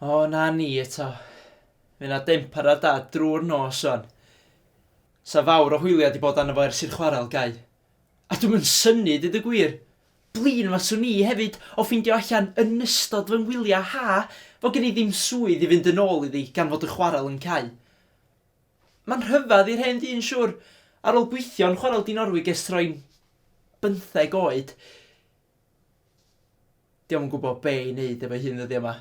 O, na ni eto. Fe na dim parad da drwy'r nos o'n. Sa fawr o hwyliau di bod arno fo ers i'r chwarel gau. A dwi'm yn synnu deud y gwir. Blin faswn i hefyd o ffeindio allan yn ystod fy ngwyliau ha fod gen i ddim swydd i fynd yn ôl iddi gan fod y chwarel yn cau. Mae'n rhyfedd i'r hen ddyn siwr, ar ôl gweithio yn chwarel Dinorwig ers troi'n bymtheg oed, 'di o'm yn gwybod be' i neud efo'i hun ddyddiau 'ma.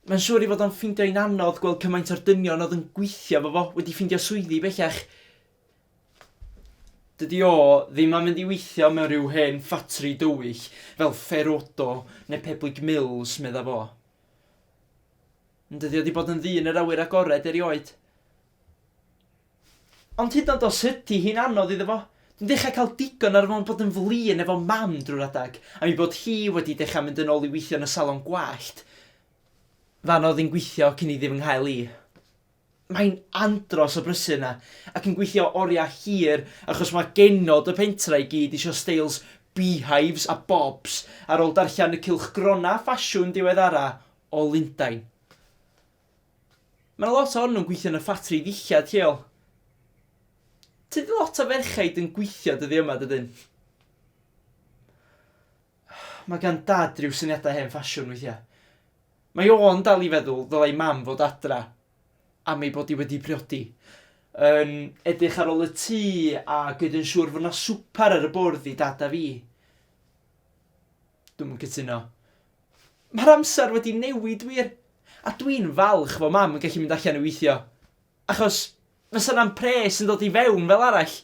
Mae'n siwr ei fod o'n ffeindio hi'n anodd gweld cymaint o'r dynion oedd yn gweithio efo fo wedi ffeindio swyddi bellach. Dydy o ddim am fynd i weithio mewn rhyw hen ffatri dywyll fel Ferodo neu Peblig Mills, medda fo. Ond dydy o 'di bod yn ddyn yr awyr agored erioed. Ond hyd yn oed os ydy hi'n anodd iddo fo, dwi'n dechrau cael digon ar fo'n bod yn flin efo mam drwy'r adeg, am ei bod hi wedi dechrau mynd yn ôl i weithio yn y salon gwallt fan oedd hi'n gweithio cyn iddi fy nghael i. Mae'n andros o brysur yna ac yn gweithio oriau hir achos mae genod y pentre i gyd isio steils beehives a bobs ar ôl darllen y cylchgronau ffasiwn diweddara o Lundain. Mae 'na lot ohonyn nhw'n gweithio yn y ffatri ddillad lleol. Tydi lot o ferchaid yn gweithio dyddi yma, dydyn? Mae gan Dad ryw syniadau hen ffasiwn weithiau. Mae o'n dal i feddwl ddylai mam fod adra am ei bod hi wedi priodi. Yn edrych ar ôl y tŷ a gwneud yn siŵr fod 'na swper ar y bwrdd i dad a fi. Dwi'm yn cytuno. Mae'r amser wedi newid wir, a dwi'n falch fod mam yn gallu mynd allan i weithio, achos fysa 'na'm pres yn dod i fewn fel arall.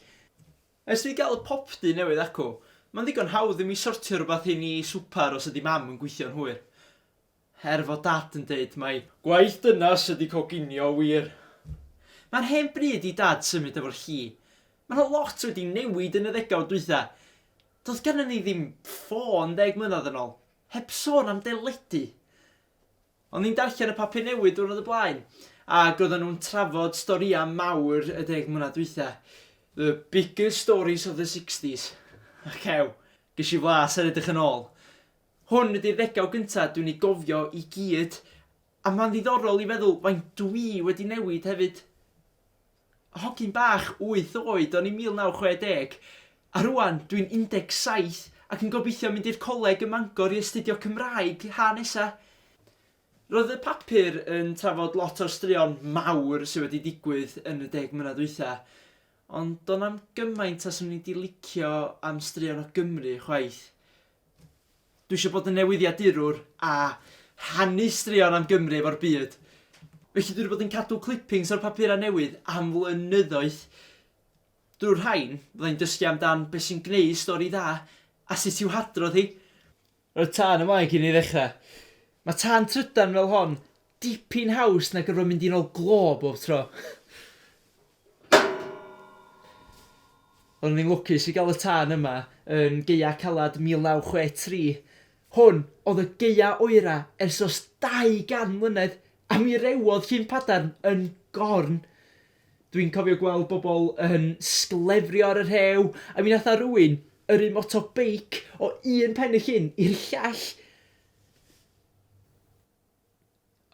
Ers fi gael y popty newydd acw, mae'n ddigon hawdd i mi sortio rhywbeth i ni swper os ydy mam yn gweithio'n hwyr. Er fod dad yn deud mai gwaith dynas ydy coginio wir. Mae'n hen bryd i dad symud efo'r lli. Mae 'na lot wedi newid yn y ddegawd dwytha. Doedd gennym ni ddim ffôn ddeg mlynedd yn ôl, heb sôn am deledu. O'n i'n darllen y papur newydd diwrnod o blaen ac oedden nhw'n trafod storïau mawr y deg mlynedd dwytha. The biggest stories of the sixties. Ac ew, ges i flas ar edrych yn ôl. Hwn ydy'r ddegawd gyntaf dwi'n ei gofio i gyd a mae'n ddiddorol i feddwl faint dwi wedi newid hefyd. Hogyn bach wyth oed o'n i'n 1960, a rŵan dwi'n 17 ac yn gobeithio mynd i'r coleg ym Mangor i astudio Cymraeg ha nesa. Roedd y papur yn trafod lot o'r straeon mawr sydd wedi digwydd yn y deg mlynedd dwytha, ond do'n na'm gymaint a 'swn i 'di licio am straeon o Gymru chwaith. Dwi eisiau bod yn newyddiadurwr a rhannu straeon am Gymru efo'r byd. Felly dwi wedi bod yn cadw clippings o'r papurau newydd am flynyddoedd. Drwy'r rhain, fydda i'n dysgu amdan beth sy'n gwneud stori dda a sut i'w hadrodd hi. Roedd tân ymlaen cyn i ni ddechrau. Mae tân trydan fel hon dipyn haws na gorfod mynd i nôl glo bob tro. Roeddwn ni'n lwcus i gael y tân yma yn gaeaf caled 1963. Hwn oedd y gaeaf oeraf ers os 200 mlynedd a mi rewodd Llyn Padarn yn gorn. Dwi'n cofio gweld bobl yn sglefrio ar y rhew a mi nath 'na rywun yrru moto beic o un pen y llyn i'r llall.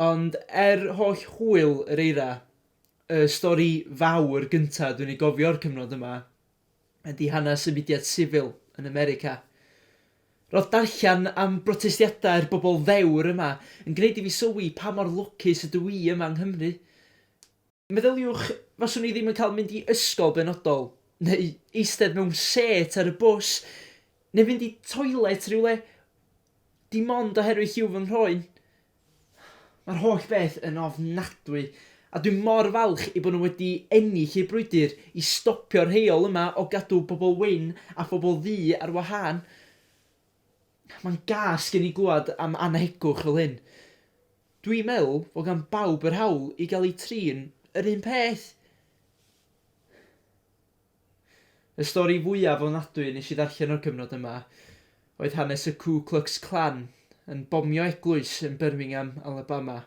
Ond er holl hwyl yr eira, y stori fawr gynta' dwi'n ei gofio o'r cyfnod yma ydi hanes y mudiad sifil yn America. Ro'dd darllan am brotestiadau'r bobl ddewr yma yn gneud i fi sylwi pa mor lwcus ydw i yma yng Nghymru. Meddyliwch, faswn i ddim yn cael mynd i ysgol benodol, neu eistedd mewn sêt ar y bws, neu fynd i toilet rhywle, dim ond oherwydd lliw fy nghroen. Mae'r holl beth yn ofnadwy, a dwi mor falch ei bod nhw wedi ennill eu brwydr i stopio'r heol yma o gadw pobl wyn a phobl ddu ar wahân. Mae'n gas gen i glywed am annhegwch fel hyn. Dwi'n meddwl fod gan bawb yr hawl i gael eu trin yr un peth! Y stori fwyaf ofnadwy nes i ddarllen o'r cyfnod yma oedd hanes y Ku Klux Klan yn bomio eglwys yn Birmingham, Alabama,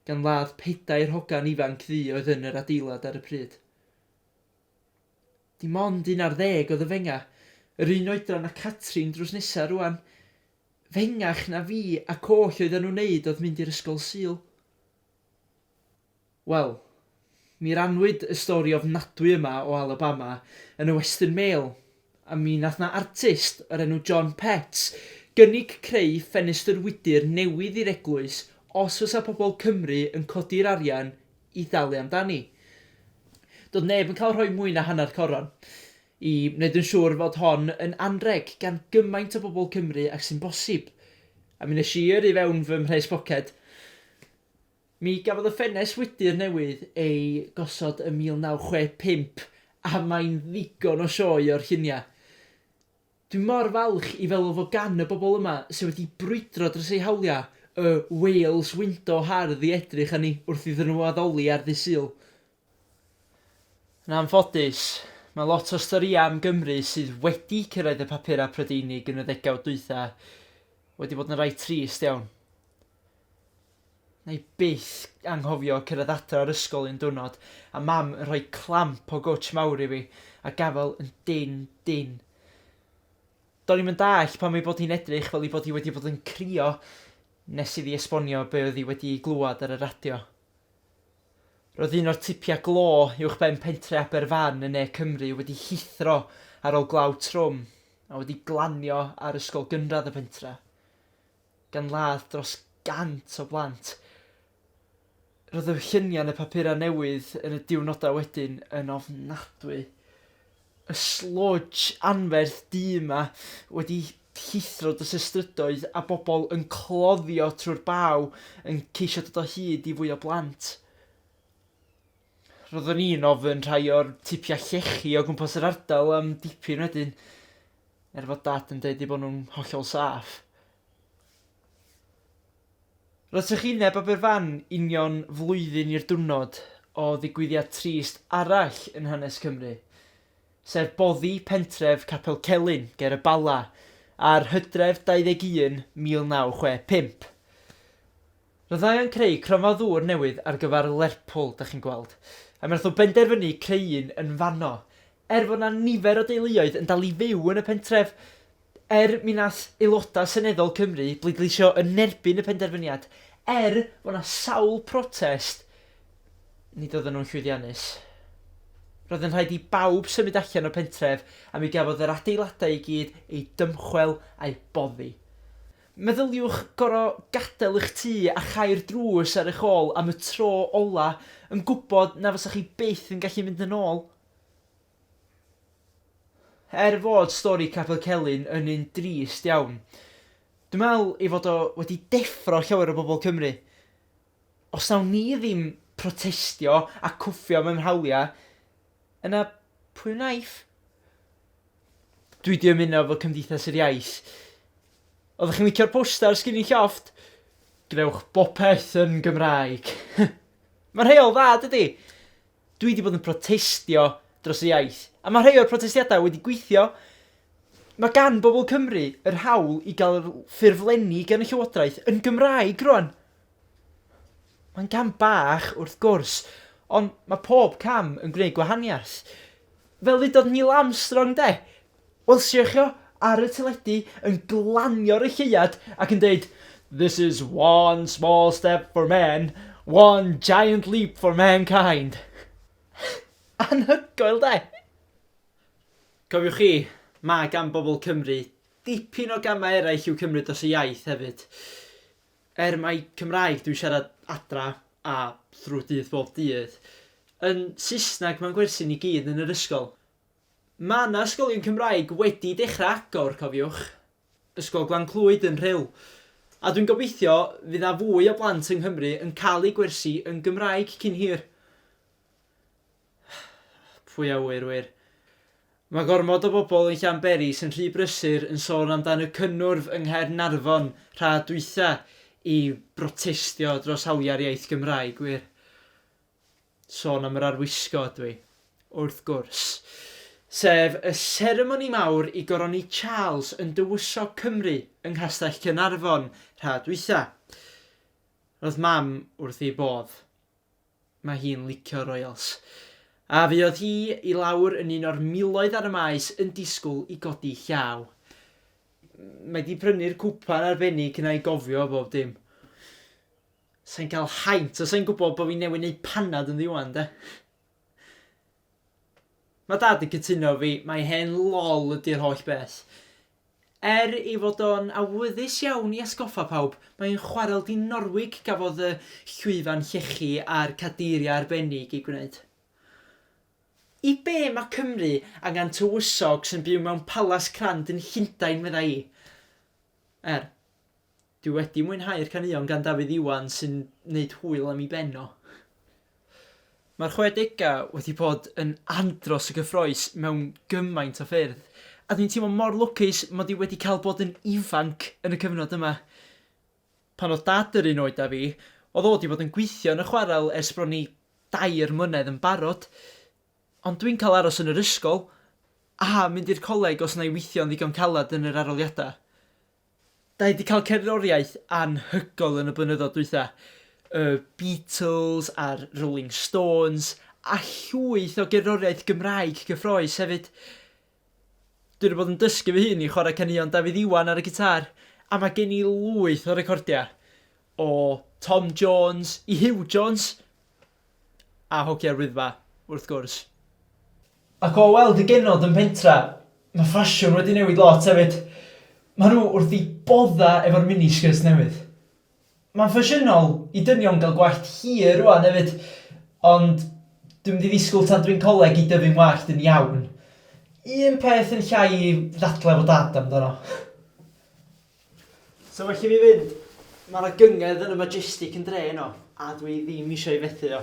gan ladd pedair hogan ifanc ddu oedd yn yr adeilad ar y pryd. Dim ond un ar ddeg oedd yn fenga', yr un oedran â Catrin drws nesa' rŵan. Fengach na fi ac oll oeddan nhw'n neud oedd mynd i'r ysgol Sul. Wel, mi rannwyd y stori ofnadwy yma o Alabama yn y Western Mail, a mi nath 'na artist o'r enw John Petts gynnig creu ffenestr wydr newydd i'r eglwys os fysa pobl Cymru yn codi'r arian i ddalu amdani. Doedd neb yn cael rhoi mwy na hanner coron i wneud yn siŵr fod hon yn anrheg gan gymaint o bobl Cymru ag sy'n bosib. A mi nes i yrru fewn fy mhres poced. Mi gafodd y ffenest wydr newydd ei gosod ym 1965 a mae'n ddigon o sioe o'r lluniau. Dwi mor falch i feddwl fod gan y bobl yma sydd wedi brwydro dros eu hawliau y 'Wales Window' hardd i edrych arni wrth iddyn nhw addoli ar Ddydd Sul. Yn anffodus, mae lot o'r storïau am Gymru sydd wedi cyrraedd y papurau Prydeinig yn y ddegawd dwytha wedi bod yn rai trist iawn. Wna i byth anghofio cyrraedd adra o'r ysgol un diwrnod a mam yn rhoi clamp o gwtsh mawr i fi a gafael yn dynn dynn. Do'n i'm yn dallt pam ei bod hi'n edrych fel ei bod hi wedi bod yn crio nes iddi esbonio be oedd hi wedi'i glywed ar y radio. Roedd un o'r tipiau glo uwchben pentre Aberfan yn ne Cymru wedi llithro ar ôl glaw trwm a wedi glanio ar ysgol gynradd y pentre. gan ladd dros 100 o blant. Roedd y lluniau yn y papurau newydd yn y diwrnodau wedyn yn ofnadwy. Y sludge anferth du yma wedi llithro dros y strydoedd a bobl yn cloddio trwy'r baw yn ceisio dod o hyd i fwy o blant. Roeddwn i'n ofyn rhai o'r tipiau llechi o gwmpas yr ardal am dipyn wedyn, er fod Dad yn deud eu bod nhw'n hollol saff. Roedd trychineb Aberfan union flwyddyn i'r diwrnod o ddigwyddiad trist arall yn hanes Cymru, sef boddi pentref Capel Celyn ger y Bala ar Hydref 21, 1965. Fyddai yn creu cronfa ddŵr newydd ar gyfer Lerpwl, dach chi'n gweld, a mi nath nhw benderfynu creu un yn fanno. Er fod 'na nifer o deuluoedd yn dal i fyw yn y pentref, er mi nath aelodau seneddol Cymru bleidleisio yn erbyn y penderfyniad, er fod 'na sawl protest, nid oedden nhw'n llwyddiannus. Roedd yn rhaid i bawb symud allan o'r pentref a mi gafodd yr adeiladau i gyd eu dymchwel a'u boddi. Meddyliwch gorfod gadael eich tŷ a chau'r drws ar eich ôl am y tro ola' yn gwybod na fysech chi byth yn gallu mynd yn ôl. Er fod stori Capel Celyn yn un drist iawn, dwi'n meddwl ei fod o wedi deffro llawer o bobl Cymru. Os nawn ni ddim protestio a cwffio mewn hawliau, Yna pwy wnaiff? Dwi 'di ymuno efo Cymdeithas yr Iaith. Oeddech chi'n licio'r poster sgin i llofft? Gwnewch bopeth yn Gymraeg. Mae'n rheol dda, dydi? Dwi 'di bod yn protestio dros y iaith, a mae rhai o'r protestiadau wedi gweithio. Mae gan bobl Cymru yr hawl i gael ffurflenni gan y llywodraeth yn Gymraeg rwan. Mae'n gam bach, wrth gwrs, ond mae pob cam yn gwneud gwahaniaeth. Fel ddudodd Neil Armstrong 'de? Welsiwch chi o ar y teledu yn glanio ar y lleuad ac yn dweud 'This is one small step for man, one giant leap for mankind'. Anhygoel 'de? Cofiwch chi, mae gan bobl Cymru dipyn o gamau eraill i'w cymryd dros y iaith hefyd. Er mai Cymraeg dwi'n siarad adra a thrwy dydd bob dydd, yn Saesneg mae'n gwersi ni gyd yn yr ysgol. Mae 'na ysgolion Cymraeg wedi dechrau agor, cofiwch. Ysgol Glan Clwyd yn Rhyl. A dwi'n gobeithio fydd 'na fwy o blant yng Nghymru yn cael eu gwersi yn Gymraeg cyn hir. Pwy a ŵyr wir. Mae gormod o bobl yn Llanberis yn rhy brysur yn sôn amdan y cynnwrf yng Nghaernarfon rha dwytha i brotestio dros hawliau'r iaith Gymraeg wir. Sôn am yr arwisgo ydw i. Wrth gwrs. Sef y seremoni mawr i goroni Charles yn dywysog Cymru yng Nghastell Caernarfon rha dwytha. Roedd mam wrth ei bodd. Mae hi'n licio'r Royals. A fuodd hi i lawr yn un o'r miloedd ar y maes yn disgwyl i godi llaw. Mae 'di prynu'r cwpan arbennig 'na i gofio bob dim. Sa'n cael haint os sa'n gwybod bod fi newydd neud panad yn ddiwan, de. Mae dad yn cytuno fi, mae hen lol ydy'r holl beth. Er ei fod o'n awyddus iawn i atgoffa pawb, mae'n chwarel dinorwig gafodd y llwyfan llechi a'r cadeiriau arbennig eu gwneud. I be mae Cymru angen tywysog sy'n byw mewn palas crand yn Llundain, medda i? Er. Dwi wedi mwynhau'r caneuon gan Dafydd Iwan sy'n neud hwyl am 'i ben o. Mae'r chwedegau wedi bod yn andros o gyffroes mewn gymaint o ffyrdd, a dwi'n teimlo mor lwcus mod i wedi cael bod yn ifanc yn y cyfnod yma. Pan oedd Dad yr un oed â fi, oedd o 'di bod yn gweithio yn y chwarel ers bron i dair mlynedd yn barod, ond dwi'n cael aros yn yr ysgol a mynd i'r coleg os wna i weithio'n ddigon caled yn yr arholiadau. Da ni 'di cael cerddoriaeth anhygoel yn y blynyddoedd dwytha. Y Beatles a'r Rolling Stones a llwyth o gerddoriaeth Gymraeg cyffroes hefyd. Dwi 'di bod yn dysgu fy hun i chwarae caneuon Dafydd Iwan ar y gitâr a mae gen i lwyth o recordiau o Tom Jones i Huw Jones a Hogia'r Wyddfa, wrth gwrs. Ac o weld y genod yn pentra, mae ffasiwn wedi newid lot hefyd. Mae nhw wrth i bodda efo'r mini skirts newydd. Mae'n ffasiynol i dynion gael gwallt hir rwan hefyd, ond dwi'n mynd i ddisgwyl tan dwi'n coleg i dyfu'n wallt yn iawn. Un peth yn llai i ddadlau fo dad amdano. So well i fi fynd, mae yna gynged yn y Majestic yn dre heno, a dwi ddim eisiau ei fethu o.